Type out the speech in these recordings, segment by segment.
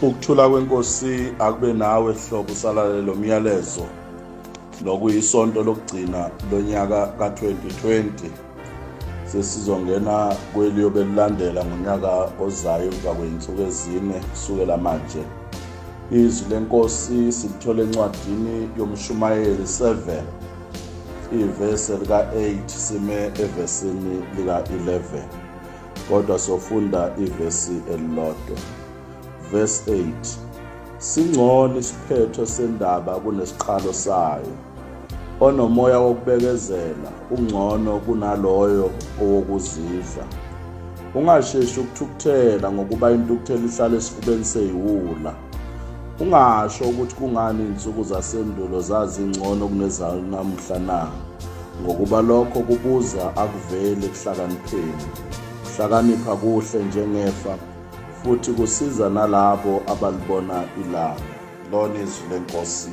Ukuthula kwenkosi akube nawe hlobo usalale lo myalezo nokuyisonto lokugcina lonyaka ka-2020 sesizongena kweliyobe lilandela ngonyaka ozayo emva kwey'nsuku ezine kusukela manje izwi lenkosi silithole encwadini yomshumayeli 7 ivese lika-8 sime evesini lika-11 kodwa sofunda ivesi elilodwa verse 8 singcono isiphetho sendaba kunesiqalo sayo onomoya wokubekezela ungcono kunaloyo owokuzidla ungasheshi ukuthukuthela ngokuba intukuthelo ihlala esifubeni seyiwula Ungasho ukuthi kungani izinsuku zasendulo zazingcono kunezanamuhla na? Ngokuba lokho kubuza akuveli ekuhlakanipheni. Ukuhlakanipha kuhle njengefa futhi kusiza nalabo abalibona ilanga. Lona izwi lenkosi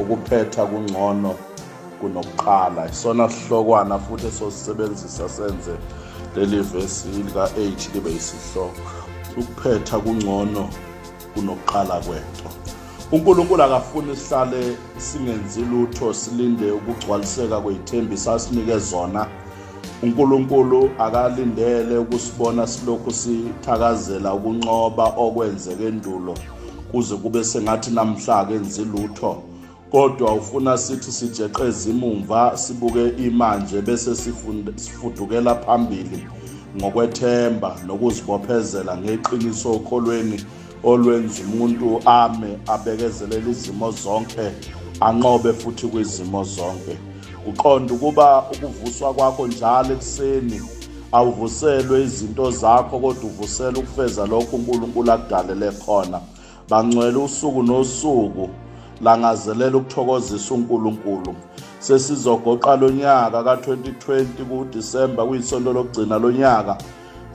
ukuphetha kungcono kunokuqala. Isona sihlokwana futhi esosisebenzisa senze leli vesi lika-8 libe yisihloko. Ukuphetha kungcono kunokuqala kwento. UNkulunkulu akafuni sihlale singenzi lutho silinde ukugcwaliseka kwezithembiso asinike zona. UNkulunkulu akalindele ukusibona silokhu sithakazela ukunqoba okwenzeke endulo kuze kube sengathi namhla akenzi lutho. kodwa ufuna sithi sijeqeze imumva sibuke imanje bese sifudukela phambili ngokwethemba nokuzibophezela ngeqiniso okholweni olwenza umuntu ame abekezelele izimo zonke anqobe futhi kwizimo zonke uqonda ukuba ukuvuswa kwakho njalo ekuseni awuvuselwe izinto zakho kodwa uvusela ukufeza lokho uNkulunkulu akudalele khona Bangcwele usuku nosuku langazelela ukuthokozisa uNkulunkulu. Sesizogoqa lonyaka ka2020 kuDisemba kuyisonto lokugcina lonyaka.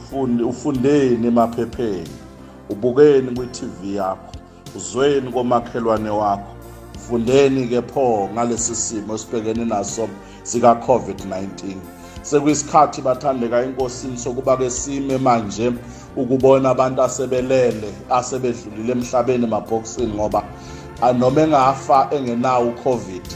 Fundi ufundeni emaphepheni, ubukeni kwiTV yakho, uzweni komakhelwane wakho. Fundeni ke pho ngalesi simo esibhekene naso zika-COVID-19. Sekuyisikhathi bathandeka enkosini sokuba ke sime manje ukubona abantu asebelele asebedlulile emhlabeni emabhokisini ngoba noma engafa engenawo uCovid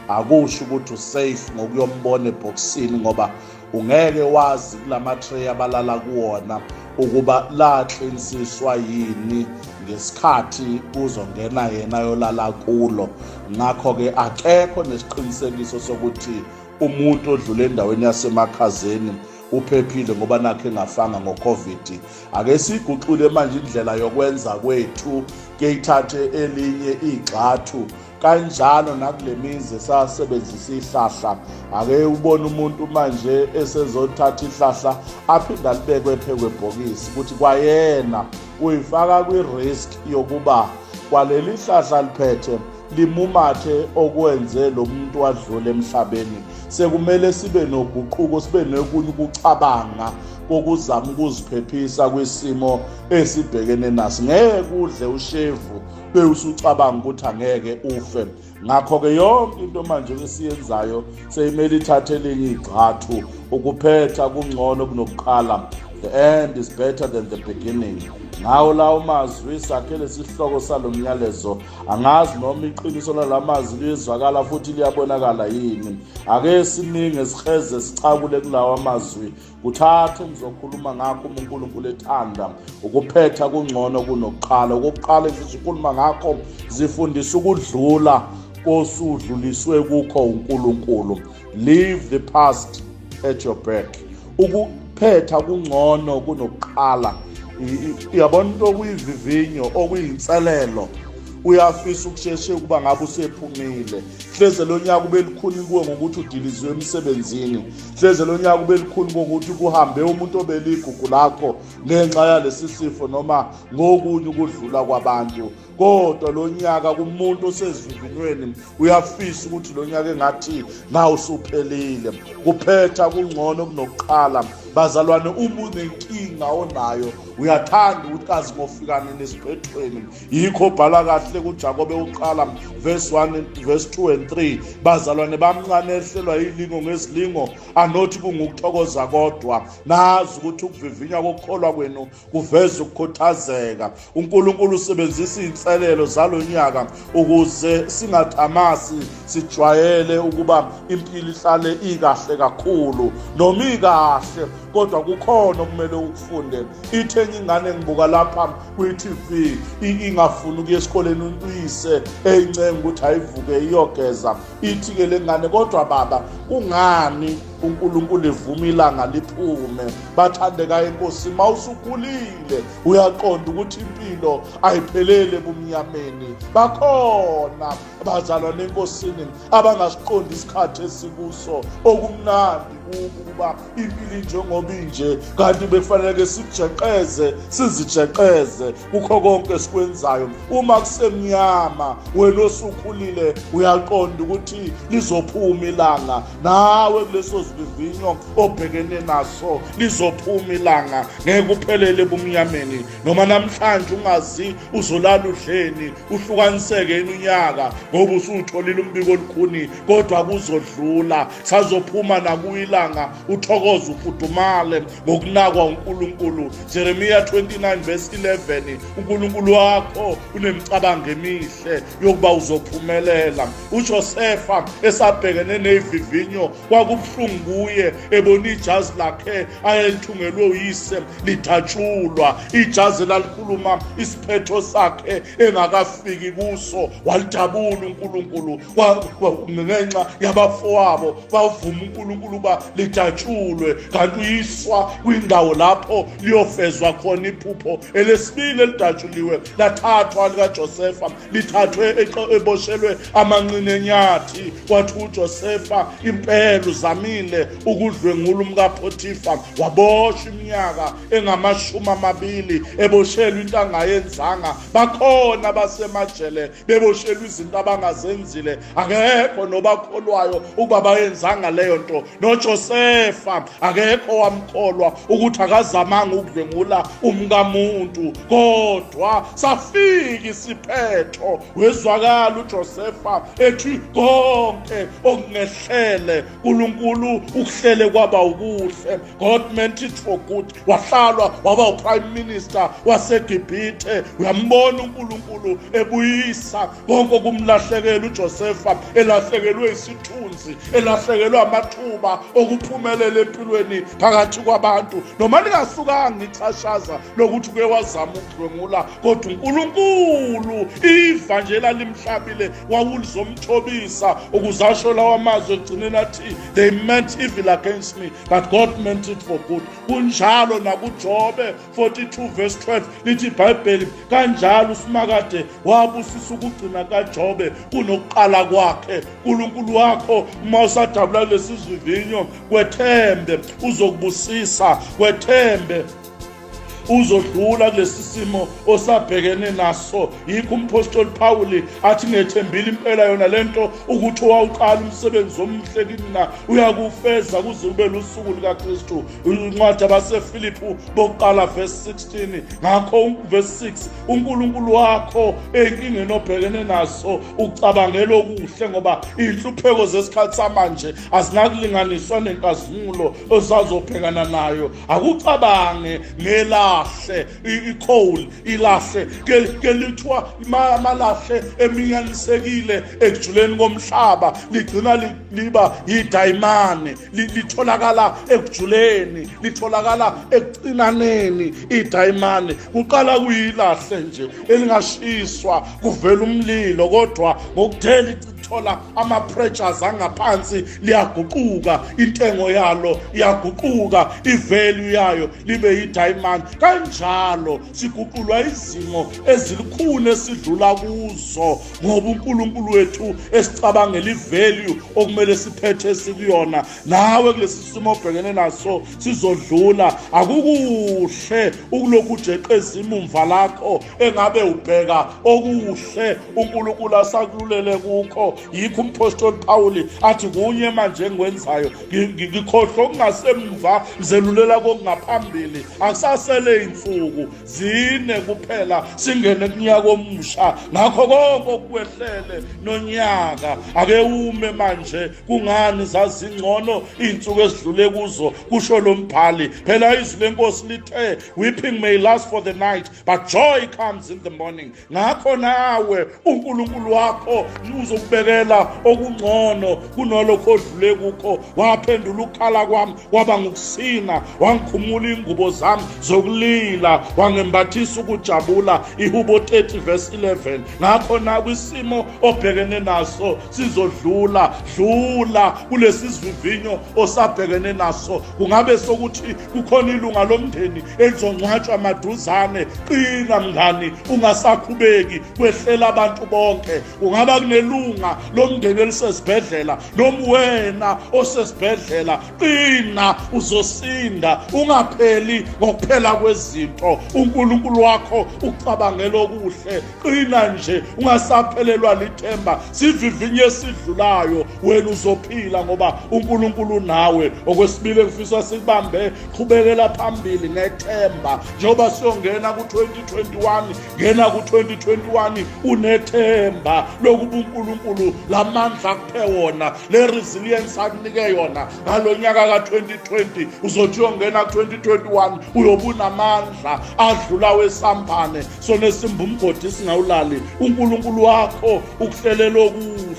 akusho ukuthi usafe ngokuyombona ebhokisini ngoba ungeke wazi kulama tray abalala kuwona ukuba laqinisiswa yini ngesikhathi kuzongena yena yolala kulo ngakho-ke akekho nesiqinisekiso sokuthi umuntu odlule endaweni yasemakhazeni uphephile ngoba nakhe engafanga ngoCovid ake siguxule manje indlela yokwenza kwethu kuyithathe elinye igxathu kanjalo nakulemizi esasebenzisa ihlahla ake ubone umuntu manje esezothatha ihlahla aphinda libekwe phekwebhokisi ukuthi kwayena uyifaka kwi-risk yokuba kwaleli hlahla liphethe limumathe okwenze lo muntu wadlula emhlabeni sekumele sibe noguquko sibe nokunye ukucabanga kokuzama ukuziphephisa kwisimo esibhekene naso ngeke udle ushevu bewusucabanga ukuthi angeke ufe ngakho-ke yonke into manje esiyenzayo seyimele ithathe elinye igxathu ukuphetha kungcono kunokuqala the end is better than the beginning ngawo lawo mazwi sakhele sihloko salo myalezo angazi noma iqiniso lala mazwi liyezwakala futhi liyabonakala yini ake siningi esikheze sichakule kulawa mazwi kuthathu ngizokhuluma ngakho uma unkulunkulu ethanda ukuphetha kungcono kunokuqala okokuqala ngizokhuluma ngakho zifundisa ukudlula kosudluliswe kukho unkulunkulu leave the past at your back ukuphetha kungcono kunokuqala yabona into okuyivivinyo okuyinselelo uyafisa ukusheshe ukuba ngabe usephumile hleze lo nyaka ubelikhuni kuwe ngokuthi udilizwe emsebenzini Hleze lo nyaka ube lukhuni kokuthi kuhambe umuntu obeligugu lakho ngenxa yalesi sifo noma ngokunye ukudlula kwabantu kodwa lo nyaka kumuntu osezivivinyweni uyafisa ukuthi lo nyaka engathi ngawusuphelile kuphetha kungcono kunokuqala bazalwane uma unenkinga onayo uyathanda ukuthi kazi ngofikane nesiphethweni yikho bhala kahle kujakobe uqala verse 1 verse 2 and 3 bazalwane bamncane ehlelwa yilingo ngezilingo anothi kungukuthokoza kodwa nazi ukuthi ukuvivinya kokukholwa kwenu kuveza ukukhuthazeka unkulunkulu usebenzisa iy'nselelo zalo nyaka ukuze singathamasi sijwayele ukuba impilo ihlale ikahle kakhulu noma ikahle kodwa kukhona okumele ukufunde ithenye ingane ngibuka lapha kwi-tv ingafuni ukuya esikoleni uyise eyincenga ukuthi ayivuke iyogeza ithi-ke le ngane kodwa baba kungani uNkulunkulu evuma ilanga liphume bathandeka inkosi mawusukhulile uyaqonda ukuthi impilo ayiphelele ebumnyameni bakhona bazalwa nenkosini abangasiqondi isikhathi esikuso okumnandi kukuba impili njengoba inje kanti bekufanele ke sijeqeze sizijeqeze kukho konke esikwenzayo uma kusemnyama wena osukhulile uyaqonda ukuthi lizophuma ilanga nawe kuleso sivivinyo obhekene naso lizophuma ilanga ngeke uphelele ebumnyameni noma namhlanje ungazi uzolala udleni uhlukaniseke yini unyaka ngoba usutholile umbiko olukhuni kodwa kuzodlula sazophuma nakuyilanga uthokoza ufudumale ngokunakwa uNkulunkulu Jeremiya 29 verse 11 uNkulunkulu wakho unemicabango emihle yokuba uzophumelela uJosefa esabhekene nezivinyo kwakubuhlungu kuye ebona ijazi lakhe ayelithungelwe uyise lithatshulwa ijazi lalikhuluma isiphetho sakhe engakafiki kuso walidabula uNkulunkulu ngenxa yabafowabo bavuma uNkulunkulu uba lidatshulwe kanti uyiswa kwindawo lapho liyofezwa khona iphupho elesibili elidatshuliwe lathathwa likaJosefa lithathwe eboshelwe amanqine enyathi kwathi uJosefa impela uzamile ukudlwengula umkaphotifa waboshwa iminyaka engamashumi amabili eboshelwe into angayenzanga bakhona basemajele beboshelwa izinto abangazenzile akekho nobakholwayo ukuba bayenzanga leyo nto nojosefa akekho wamkholwa ukuthi akazamanga ukudlwengula umkamuntu kodwa safika isiphetho wezwakala ujosefa ethi konke okungehlele nkulunkulu ukuhlele kwaba ukuhle God meant it for good wahlalwa waba uprime minister wasegibhithe uyambona unkulunkulu ebuyisa konke okumlahlekela ujosefa elahlekelwe isithunzi elahlekelwe amathuba okuphumelela empilweni phakathi kwabantu noma lingasukanga ixhashaza lokuthi uke wazama ukudlwengula kodwa uNkulunkulu iva nje lalimhlabile wawulizomthobisa ukuze asho lawa mazwi egcineni athi they meant evil against me but God meant it for good kunjalo nakuJobe 42 verse 12 lithi iBhayibheli kanjalo uSimakade wabusisa ukugcina kaJobe kunokuqala kwakhe uNkulunkulu wakho uma usadabula lesizivinyo kwethembe uzokubusisa kwethembe uzodlula kulesi simo osabhekene naso yikho umphostoli Pawuli athi ngethembile impela yona lento ukuthi owawuqala umsebenzi omuhle kimina uyakufeza kuze ube lusuku likaKristu incwadi abaseFiliphu bokuqala verse 16 ngakho verse 6 uNkulunkulu wakho enkingeni obhekene naso ucabangela okuhle ngoba inhlupheko zesikhathi samanje azinakulinganiswa nenkazimulo osazobhekana nayo akucabange ngelahle icoal ilahle kelithiwa amalahle eminyanisekile ekujuleni komhlaba ligcina liba yidayimane litholakala ekujuleni litholakala ekucinaneni idayimane kuqala kuyilahle nje elingashiswa kuvela umlilo kodwa ngokuthela thola ama-pressures angaphansi liyaguquka intengo yalo iyaguquka ivalue yayo libe yi-diamond kanjalo siguqulwa izimo ezilukhuni esidlula kuzo ngoba unkulunkulu wethu esicabangela ivalue okumele siphethe sikuyona nawe kulesi simo obhekene naso sizodlula akukuhle ukulokhu ujeqeza imumva lakho engabe ubheka okuhle uNkulunkulu asakululele kukho yikho umphostoli Pawuli athi kunye manje engikwenzayo ngikhohlwa okungasemva ngizelulela kokungaphambili akusasele insuku zine kuphela singene kunyaka omusha ngakho konke okwehlele nonyaka ake ume manje kungani zazingcono izinsuku ezidlule kuzo kusho lombhali phela izwi lenkosi lithe weeping may last for the night but joy comes in the morning ngakho nawe uNkulunkulu wakho uzokubekela okungcono kunalokho odlule kukho waphendula ukukhala kwami waba ngukusina wangikhumula ingubo zami zokulila wangembathisa ukujabula ihubo 30 verse 11 ngakho na kwisimo obhekene naso sizodlula dlula kulesizivinyo osabhekene naso kungabe sokuthi kukhona ilunga lomndeni elizongcwatshwa maduzane qina mngani ungasakhubeki kwehlela abantu bonke kungaba kunelunga lomndeni elisesibhedlela noma wena osesibhedlela qina uzosinda ungapheli ngokuphela kwezinto uNkulunkulu wakho ucabangela okuhle qina nje ungasaphelelwa lithemba sivivinye esidlulayo wena uzophila ngoba uNkulunkulu nawe okwesibili engifisa sikubambe qhubekela phambili ngethemba njengoba siyongena ku-2021 ngena ku-2021 unethemba lokuba uNkulunkulu lamandla akuphe wona le resilience akunike yona ngalo nyaka ka-2020 uzothi uyongena ku-2021 uyobe unamandla adlula wesambane sona esimba umgodi singawulali uNkulunkulu wakho ukuhlelela okuhle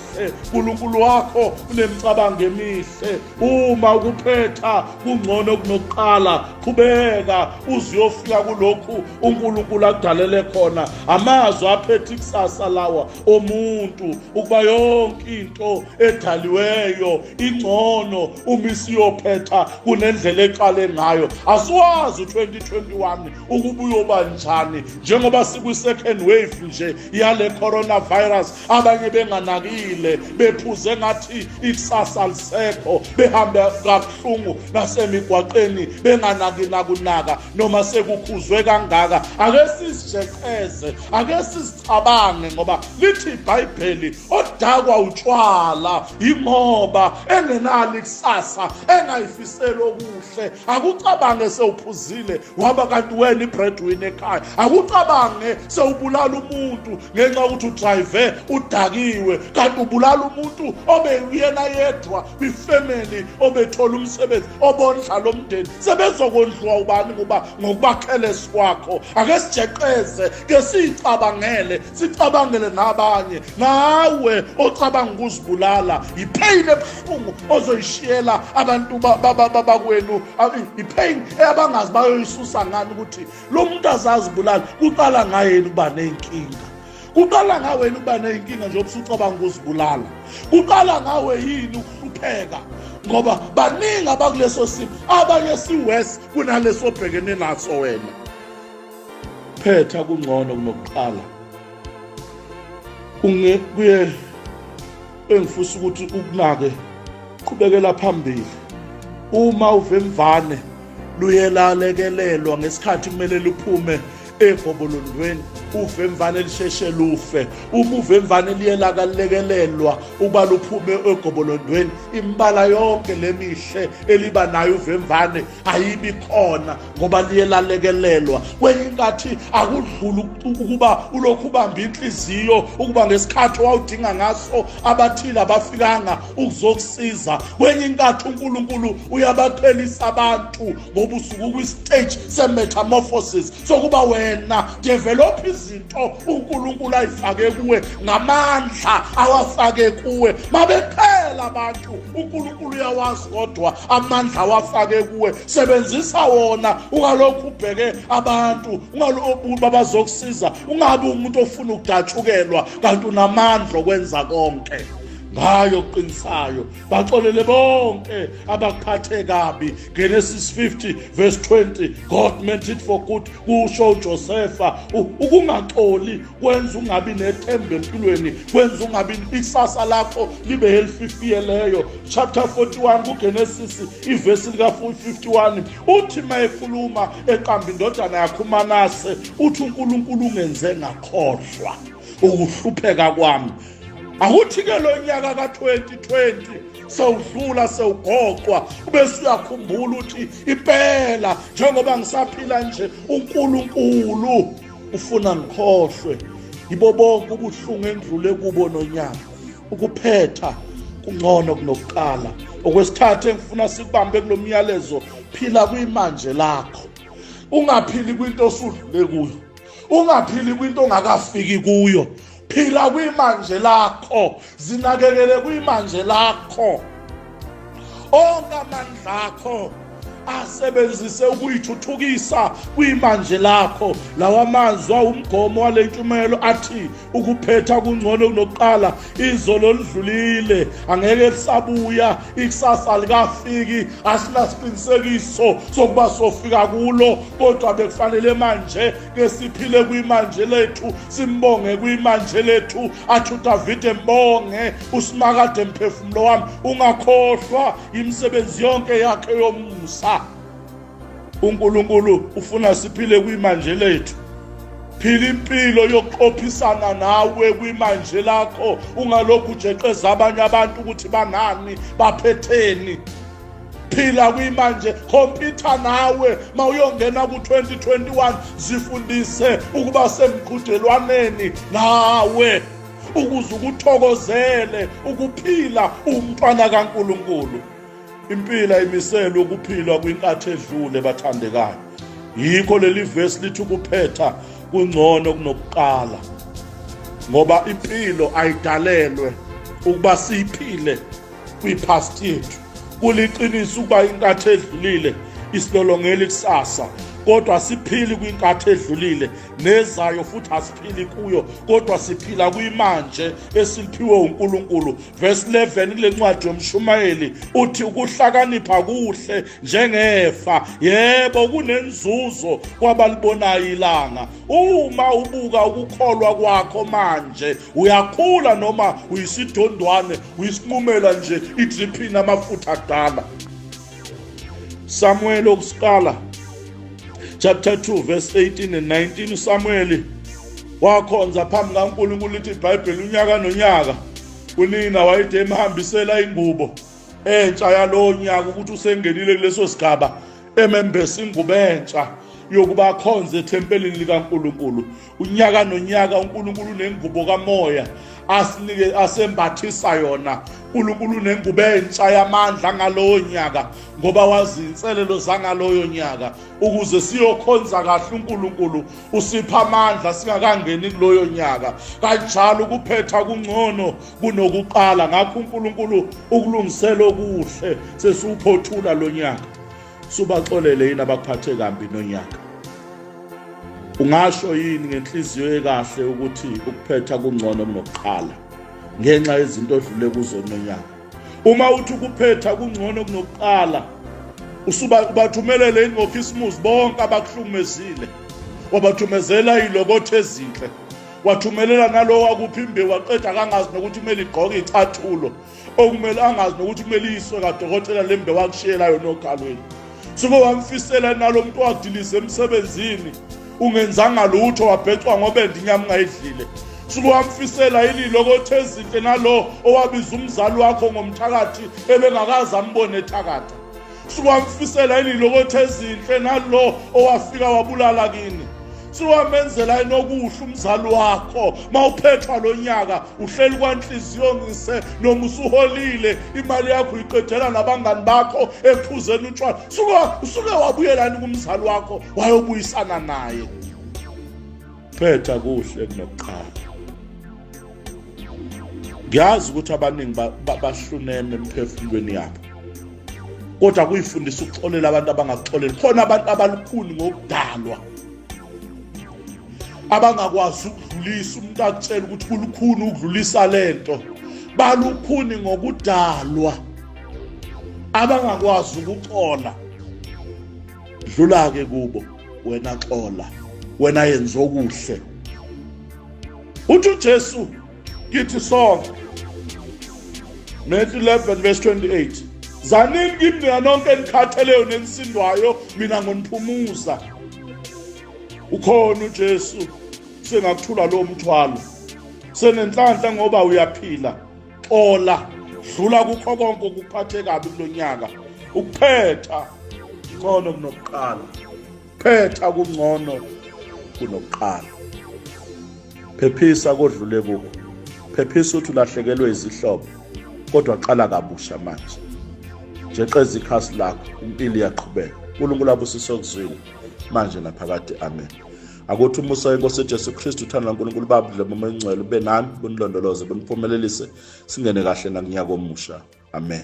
uNkulunkulu wakho unemicabango emihle uma ukuphetha kungcono kunokuqala qhubeka uziyofika kulokhu uNkulunkulu akudalele khona amazwi aphethe ikusasa lawa omuntu ukuba yonke into edaliweyo ingcono uma isiyophetha kunendlela eqale ngayo asiwazi u2021 ukuba uyoba njani njengoba sikwi-second wave nje yale coronavirus abanye benganakile bephuze ngathi ikusasa lisekho behambe kabuhlungu nasemigwaqeni benganaki nakunaka noma sekukhuzwe kangaka ake sizijeqeze ake sizicabange ngoba lithi ibhayibheli odakwa utshwala yingoba engenalo ikusasa engayifiseli okuhle akucabange sewuphuzile waba kanti wena ibreadwin ekhaya akucabange sewubulala umuntu ngenxa yokuthi udrive udakiwe kanti ubulala umuntu obeyuyena yedwa kwifemeli obethola umsebenzi obondla lo mndeni sebezokondliwa ubani ngoba ngokubakhelesi kwakho ake sijeqeze ke siyicabangele sicabangele nabanye nawe ocabanga ukuzibulala yipheyini ebuhlungu ozoyishiyela abantu bakwenu yipheyini abangazi bayoyisusa ngani ukuthi lo muntu azazibulala kuqala ngayeni ukuba ney'nkinga kuqala ngawena ukuba ney'nkinga njengoba usucabanga ukuzibulala kuqala ngawe yini ukuhlupheka ngoba baningi abakuleso simo abanye siwes kunaleso obhekene naso wena phetha kungcono kunokuqala unge kuye engifusa ukuthi ukunake qhubekela phambili uma uvemvane luyelalekelelwa ngesikhathi kumele luphume egobolondweni uvemvane lisheshe lufe uma uvemvane liye lakalekelelwa ukuba luphume egobolondweni imbala yonke lemihle eliba nayo uvemvane ayibi khona ngoba liye lalekelelwa kwenye inkathi akudluli ukuba ulokhu ubambe inhliziyo ukuba ngesikhathi wawudinga ngaso abathile abafikanga ukuzokusiza kwenye inkathi uNkulunkulu uyabaqhelisa abantu ngoba usuku kwi-stage se-metamorphosis sokuba wena develop izinto uNkulunkulu ayifake kuwe ngamandla awafake kuwe mabephela abantu uNkulunkulu uyawazi kodwa amandla awafake kuwe sebenzisa wona ungalokhu ubheke abantu ungalokhu babazokusiza ungabi umuntu ofuna ukudatshukelwa kanti unamandla okwenza konke ngayo oqinisayo baxolele bonke abaphathe kabi genesis 50 verse 20 god meant it for good kusho ujosefa ukungaxoli kwenza ungabi nethemba empilweni kwenza ungabi ikusasa lakho libe helififiyeleyo chapter 41 kugenesis ivesi lika-51 uthi ma ekhuluma eqamba indodana yakho umanase uthi unkulunkulu ungenze ngakhohlwa ukuhlupheka kwami akuthi-ke lo nyaka ka-2020 sewudlula sewugoqwa ubese uyakhumbula ukuthi impela njengoba ngisaphila nje unkulunkulu ufuna ngikhohlwe yibo bonke ubuhlungu endlule kubo nonyaka ukuphetha kungcono kunokuqala okwesithathu engifuna sikubambe kulo myalezo phila kwimanje lakho ungaphili kwinto osudlule kuyo ungaphili kwinto ongakafiki kuyo phila kwimanje lakho zinakekele kwimanje lakho onke amandla akho asebenzise ukuyithuthukisa kwimanje lakho lawa mazwi awumgomo wale ntshumayelo athi ukuphetha kungcono kunokuqala izolo oludlulile angeke lisabuya ikusasa likafiki asinasiqinisekiso sokuba sofika kulo kodwa bekufanele manje ke siphile kwimanje lethu simbonge kwimanje lethu athi udavide mbonge usimakade mphefumulo wami ungakhohlwa yimisebenzi yonke yakhe yomusa unkulunkulu ufuna siphile kwimanje lethu phila impilo yokuqophisana nawe kwimanje lakho ungalokhu ujeqeza abanye abantu ukuthi bangani baphetheni phila kwimanje khompyutha nawe ma uyongena ku-2021 zifundise ukuba semqhudelwaneni nawe ukuze ukuthokozele ukuphila umntwana kaNkuluNkulu impila imiselwe ukuphilwa kwinkathi edlule bathandekayo yikho leli vesi lithi ukuphetha kungcono kunokuqala ngoba impilo ayidalelwe ukuba siyiphile kwi-past yethu kuliqiniso ukuba inkathi edlulile isilolongela ikusasa kodwa asiphili kwinkathi edlulile nezayo futhi asiphili kuyo kodwa siphila kwimanje esiphiwe uNkulunkulu verse 11 kule ncwadi yomshumayeli uthi ukuhlakanipha kuhle njengefa yebo kunenzuzo kwabalibonayo ilanga uma ubuka ukukholwa kwakho manje uyakhula noma uyisidondwane uyisinqumela nje i-drip inamafutha akudala samuel okusiqala chapter 2 verse 18 and 19 usamuweli wakhonza phambi kankulunkulu lithi ibhayibheli unyaka nonyaka unina wayede emhambisela ingubo entsha yalowo nyaka ukuthi usengenile kuleso sigaba emembesa ingubo entsha yokuba akhonze ethempelini likankulunkulu unyaka nonyaka uNkulunkulu nengubo kamoya asinike asembathisa yona uNkulunkulu nengubo entsha yamandla ngalowo nyaka ngoba wazi inselelo zangaloyo nyaka ukuze siyokhonza kahle uNkulunkulu usipha amandla singakangeni kuloyo nyaka kanjalo ukuphetha kungcono kunokuqala ngakho uNkulunkulu ukulungisela okuhle sesiwuphothula lo nyaka subaxolele yini abakuphathe kambi nonyaka ungasho yini ngenhliziyo ekahle ukuthi ukuphetha kungcono kunokuqala ngenxa yezinto odlule kuzo nonyaka uma uthi ukuphetha kungcono kunokuqala usuba ubathumelele yini ngokhisimusi bonke abakuhlumezile wabathumezela ilokotho ezinhle wathumelela nalowo wakuphi imbewu waqeda kangazi nokuthi kumele igqoke icathulo okumele angazi nokuthi kumele iyiswe kadokotela le mbe wakushiyela yona ogalweni suke wamfisela nalo muntu wadilize emsebenzini ungenzanga lutho wabhecwa ngobendi inyama ungayidlile suke wamfisela yini lokho othe ezinhle nalo owabiza umzali wakho ngomthakathi ebengakazi ambone ethakatha siwamfisela yini lokotha ezinhle nalo owafika wabulala kini siwamenzela inokuhle umzali wakho mawuphethwa lonyaka uhleli kwanhliziyo ngise noma usuholile imali yakho uyiqedela nabangani bakho ephuzeni utshwala suke usuke wabuyelani kumzali wakho wayobuyisana naye phetha kuhle kunokuqala ngiyazi ukuthi abaningi bahluneme emphefumulweni yabo kodwa kuyifundisa ukuxolela abantu abangaxoleli khona abantu abalukhuni ngokudalwa abangakwazi ukudlulisa umuntu akutshela ukuthi kulukhuni ukudlulisa lento balukhuni ngokudalwa abangakwazi ukuxola dlula ke kubo wena xola wena yenza okuhle uthi uJesu kithi sonke Matthew 11 verse 28 zanini kimi nina nonke enikhatheleyo nenisindwayo mina ngoniphumuza ukhona uJesu sengakuthula lo mthwalo senenhlanhla ngoba uyaphila xola dlula kukho konke okuphathe kabi kulo nyaka ukuphetha ngcono kunokuqala phetha kungcono kunokuqala phephisa kodlule kukho phephisa ukuthi ulahlekelwe izihlobo kodwa qala kabusha manje jeqeza ikhasi lakho impilo iyaqhubeka unkulunkulu abusise okuzwile manje naphakade amen akuthi umusa wenkosi ujesu kristu uthando lankulunkulu baba dleba omengcwele ube nani bunilondoloze buniphumelelise singene kahle nakunyaka omusha amen